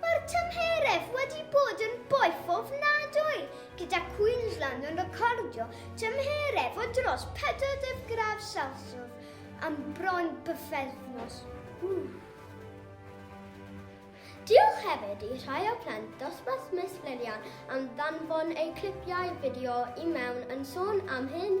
Mae'r tymheredd wedi bod yn boeth ofnadwy, gyda Queensland yn recordio tymheredd o dros 40 gradd Celsius am bron bythefnos. Diolch hefyd i rhai o plant dosbarth Miss Lilian am ddanfon eu clipiau fideo i mewn yn sôn am hyn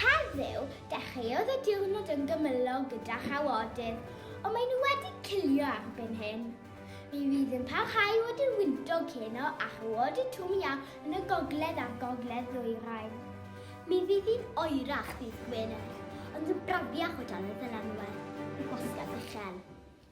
Heddiw, dechreuodd y diwrnod yn gymylog gyda chawodydd, ond maen nhw wedi cilio erbyn hyn. Mi fydd yn parhau i fod yn wyntog heno â chawodydd twm iâ yn y gogledd a'r gogledd-ddwyrain. Mi fydd hi'n oerach ddydd Gwener, ond yn brafiach o dan y dylanwad y gwasgedd uchel.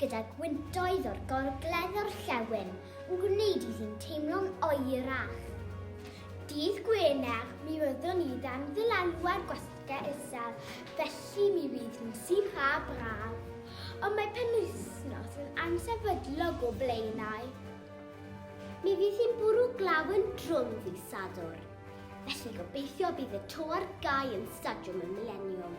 gyda gwyntoedd o'r Gorgledd Orllewin yn gwneud iddi'n teimlo'n oerach. Dydd Gwener, mi fyddwn ni dan ddylanwad gwasgau isel, felly mi fydd hi'n sych a braf. Ond mae penwythnos yn amser fydlog o Blaenau. Mi fydd hi'n bwrw glaw yn drwm ddydd Sadwrn, felly gobeithio bydd y to ar gau yn Stadiwm y Mileniwm.